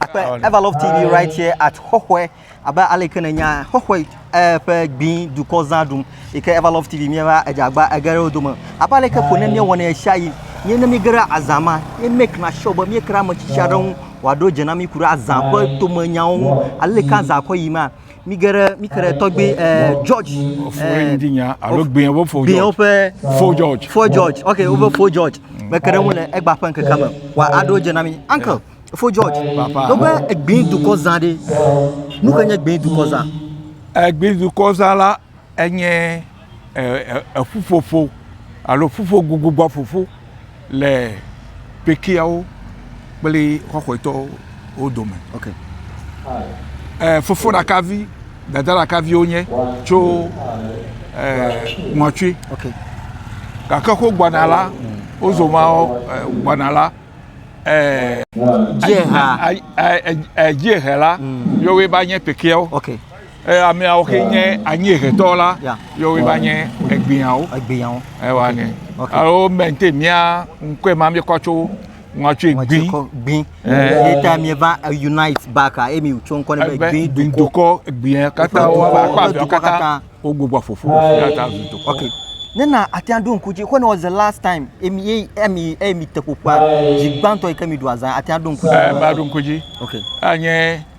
Akpe Ever Love TV right here at Xɔxɔe abe ale ke nènya Xɔxɔe eh, ƒe gbin dukɔ zã ɖum yi ke Ever Love TV míeva edzagba ege ɖe wo dome abe ale ke ko ne míewɔnɛ ɣesiaɣi míe ne míege ɖe azã ma míe make na sure be míekra ame tsitsi aɖe ŋu wòaɖo dze na mí ku ɖe azã ƒe tomenyawo ŋu ale ke azã kɔ yi ma Mi ge ɖe mi ke ɖe tɔgbi ɛɛ George Fore ŋdi nya alo gbea wo fo George. Gbea woƒe fo George. Fo George. Ok woƒe fo George. Me ke ɖe ŋu le egba ƒe ŋkeke me. Wa aɖo dze na mi. Uncle fo George. Papa. Ɖo be egbi dukɔ zã ɖe. Nu ke nye egbi dukɔ zã? Egbi dukɔ zã la enye. eƒuƒoƒo alo ƒuƒogugugbɔƒoƒo le kpekpeawo kple xɔxɔetɔwo dome. Okay. Eh, fofo ɖaka vi dada ɖaka viwo nye tso ŋɔtwi gake ko gbɔna la wozɔ ma gbɔna la dziehe la yewoe va nye pekeawo Eh, ameawo xe nye anyiehetɔ la yɔ weba nye egbeawo egbeawo ewa ne alo mente mia ŋkɔe ma mi kɔtso ŋɔtsoe gbi gbi eh. eta mi va unite back a emi tso ŋkɔ ne be gbi dukɔ gbia kata wo ba kpa bi kata wo gbogbo fofo kata dukɔ okay nena atia do ŋku dzi when was the last time emi ye emi emi te ƒoƒua dzi gbãtɔ yi ke mi do azan atia do ŋku dzi eh ba do ŋku dzi okay anye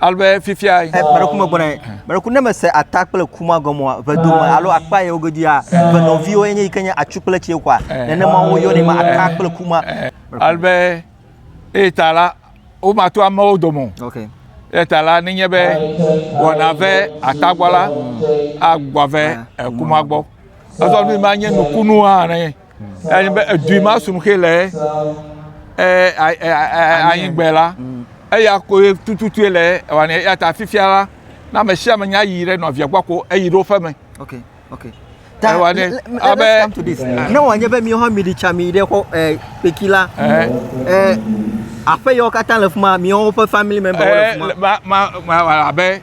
alo be fifia. Meɖeku me gbɔna meɖeku ne mese ata kple kuma gɔmɔa vedome alo akpa yewo goduia venɔviwo enye yi ke nye atsu kple tsie kɔa nenema woyɔnɛ ma ata kple kuma. Alo be eye ta la womato amewo dome o. Okay. Eya ta la nenye be wɔna ve ata gbɔ la agbɔ ve kuma gbɔ. Ezɔ nu ma nye nukunu hã ne. Eyi be edui ma sum xe le anyigbe la, mm. eya koe tututue le wane eya ta fifia la na ame sia ame nya yi ɖe nɔvia gbɔ ko eyi ɖo ƒe me. Okay, okay. Ta, ewa ne, abe, let's come to this. Eh. Ne wòanye be miwo hã miɖi tsa mi ɖe xɔ eh, kpeki la, eh. eh, aƒe yawo katã le fi ma, miwo ƒe family member wo le fi ma. Eh, ma, ma, ma, abe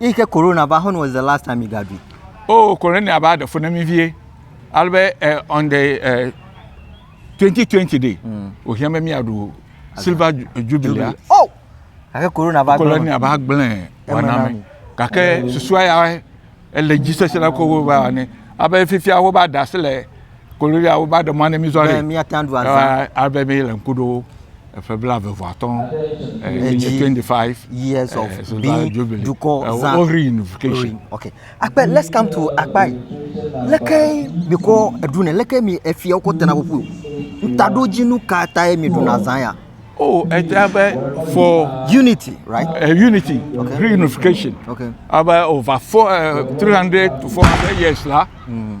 Eyi ke corona va, when was the last time you got it? Oh, corona va ɖe fo na mi vie. Alebe uh, on the uh, eh, 2020 day, mm. ohia me mi aɖu silver jubilee. Oh, gake corona va gblẽ. Corona va gblẽ wana me. Gake susua ya ele dzi sese la ko va ne. Abe fifia wo va da se le Kololia wo ba ɖe mɔ ne mi zɔ ɖe. Mia ta ɖu azã. Abe mi le ŋku ɖo eƒe bla ve vɔ atɔ. Edzi twenty five years of eh, being dukɔ zã. Wo reunification. Okay. Akpe let's come to akpa yi. Leke mi kɔ eɖu ne leke mi efia wokɔ tena ƒoƒu o. Ntaɖodzinu ka ta ye mi ɖuna zã ya? Oh, it's about for unity, right? Uh, unity, okay. reunification. Okay. About over four, uh, 300 to 400 years, lah. Mm.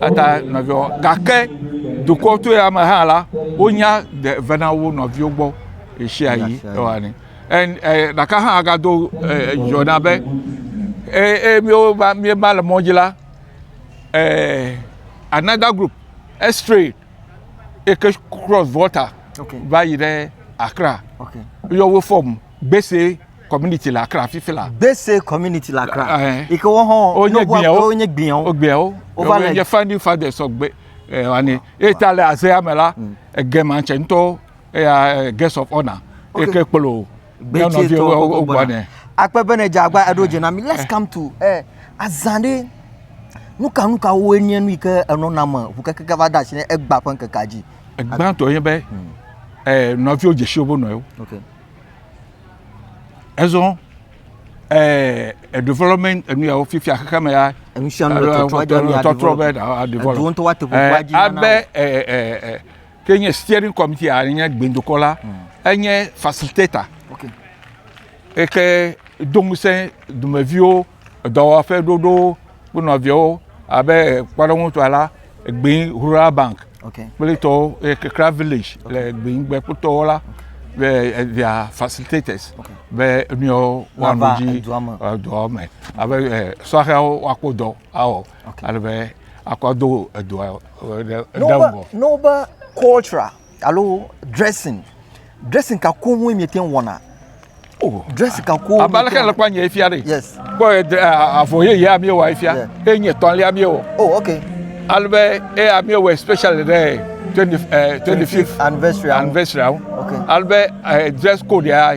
Ata nɔviwo gake dukɔ to ya me hã la wonya de ve na wo nɔviwo gbɔ ɣesia ɣi ewani ɛ ɖaka hã agado yɔ na be ɛ ɛ miwo va mi va le mɔdzi la ɛ another group extray eke cross volta okay. va yi ɖe akra okay. yɔ wo fɔm gbese. community le Accra fifi la. Gbese community le Accra. Ɛɛ. Yi ke wo hã wonye gbiawo. Wonye gbiawo. Wogbiawo. Wova le. Wonye founding fathers ɔgbe ɛɛ wani. Eyi ta le azea me la, mm. egema tsɛ ŋutɔ eya guest of honour. Yi ke kplɔ nyɔnɔviwo wogbɔ ne. Akpe be ne dze agba eɖo eh. dze na mi. Let's eh. come to ɛɛ eh, azã ɖe nuka nuka woe nye nu yi ke enɔ na me ŋu kekeke va da asi ne egba ƒe ŋkekea dzi. Egbãtɔ ye be ɛɛ hmm. nɔviwo dzesi wobe nɔewo. Okay. Ezɔ eh, eh, development enu yawo fifia xexe me ya. Enu sia nu le eh, trɔtrɔ dzi anu trɔtrɔ be aɖu develop. Edu ŋutɔ wa teƒe eh, dzi. Abe eh, eh, eh, ke nye steering committee a nye gbendokɔ la hmm. enye facilitator. Okay. Eke do ŋusẽ dumeviwo. edɔwɔƒe ɖoɖo kple nɔviawo abe kpɔɖeŋutɔa la egbe rural bank kple tɔwo kekra village le egbe ŋgbe kple tɔwo la be via facilitators be nuyawo woanɔ dzi edɔa me abe sɔhɛwo woakpɔ dɔ awɔ ale be akɔ do edɔa ɖe ŋgɔ. Noba culture. alo dressing dressing ka koŋ woe miete ŋu wɔna oh. dressing ka koŋ abe aleke le kpɔ nye fia ɖe yes kpɔ avɔ yeyea mi wɔ fia eye nye tɔlia mi wɔ oh ok alebe eya mi wɔ especially ɖe twenty eh, twenty fifth anniversary anniversary awo alebe eh, dress code ya.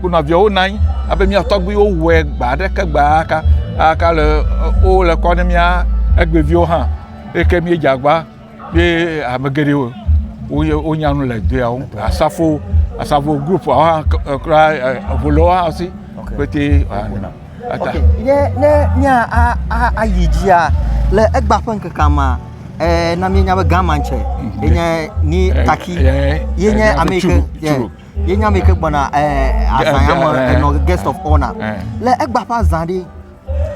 Kpɔnɔ viawo nɔ anyi abe mía tɔgbuiwo wɔe gbe aɖeke gbe aleke aleke ale wole kɔ na mía egbeviwo hã eyi ke míedze agba be ame geɖewo woye wonya nu le dua ŋu. Asafo asafo grupua hã kura eŋu le wo hã si kpetɛ wona. Ok ye ne mía a a ayi dzia le egba ƒe ŋkekea mea e na míenya be gama tsɛ enye ni taki ye nye ame yi ke. ye nya me ke gbɔna eh, azã ya me eh, eh, enɔ guest of honor le egba ƒe azã ɖe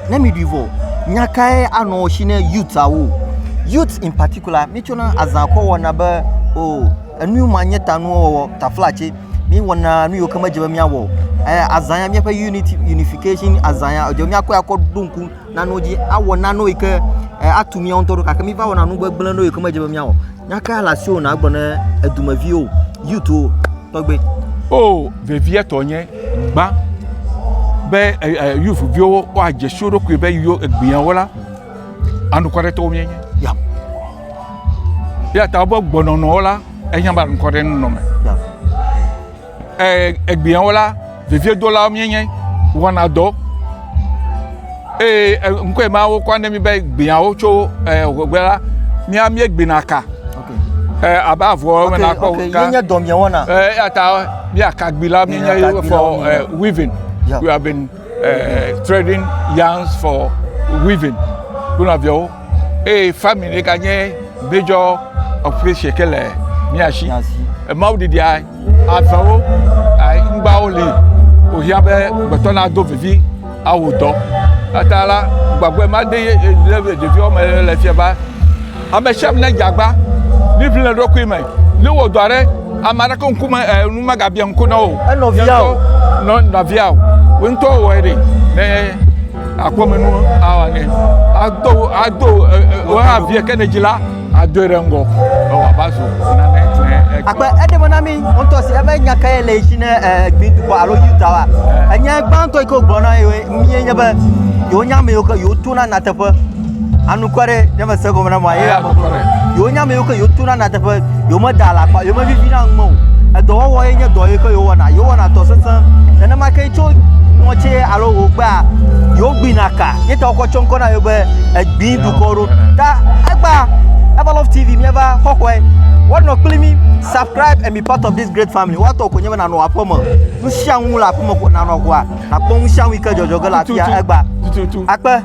ne mi ɖui vɔ nya kae anɔ si ne youth awo youth in particular mi tsɔna azã kɔ wɔna be o oh, enu ma nye ta nuwo wɔwɔ tafla tse mi wɔna nu yiwo ke medze be miawɔ eh, azã ya miaƒe unity unification azã ya edze miakɔ akɔ ɖo ŋku nano dzi awɔ nano yi ke eh, atu mía ŋutɔ ɖo gake míva wɔna nu gbegblẽ ɖo yi ke medze be míawɔ nyaka le asiwò nàgblɔ ne edumeviwo yutuwo tɔgbe o vevietɔ nye gbã be yuvuviwo woadze si wo ɖokui be yo egbeawo la anukwaretɔwo míenye ya ya ta wobe gbɔnɔnɔwo la enya be anukwarenɔnɔ me ya Egbeawo la, veviedolawo míenye, wɔna dɔ eye ŋkɔe ma wokɔ na mí be gbeawo tso ŋegbe la, mía míegbena ka abe avɔ ene na kpɔ ka. Míenye dɔ míewɔna. Eya ta mía kagbilawo míenye for weaving. We have been trading yarns for weaving. Kple nɔviawo. Eye family ɖeka nye major operation ke le mía si. Emawo ɖiɖia avewo ŋgbawo li wòhiã be gbetɔ nado vivi awu dɔ. Ata la gbagbe ma de ɖeviwo me le fia ba. Ame sia ame nedze agba ne ʋli le ɖokui me. Ne wɔ dɔ aɖe ame aɖeke ŋkume e nu megabia ŋku na wo. Enɔvia o. Nɔ nɔvia o. Wo ŋutɔ wɔe ɖi. Ne akpɔmenu awɔ nɛ ado ado woavia ke ne dzi la adoe ɖe ŋgɔ be wòava zu nane ne agbe eɖeme na mi ŋutɔ si ebe nya kae le si ne gbidukɔ alo yuda wa enya gbãtɔ yi ke wogblɔ na yewo mie nye be yewonya amewo ke yewotona nateƒe anukua ɖe ne me se gɔme na mɔ ye ya me gɔme yewo nya me yewo ke yewo tona na teƒe yewo me da alakpa yewo me vivi na ŋme o edɔwɔwɔ ye nye dɔ yi ke yewo wɔna yewo wɔna dɔ sesẽ nenema ke tso ŋɔtsi alo wo gbea yewo gbina ka ye ta wokɔ tsɔ ŋkɔ na yewo be egbi dukɔ ɖo ta egba ever love tv mieva xɔxɔe wɔnɔ kpli mi subscribe and be part of this great family wɔatɔ ko nye be nanɔ aƒeme nu sia nu le aƒeme ko nanɔ ʋɔa nakpɔ nu sia nu yi ke dzɔdzɔ ge le afia egba akpe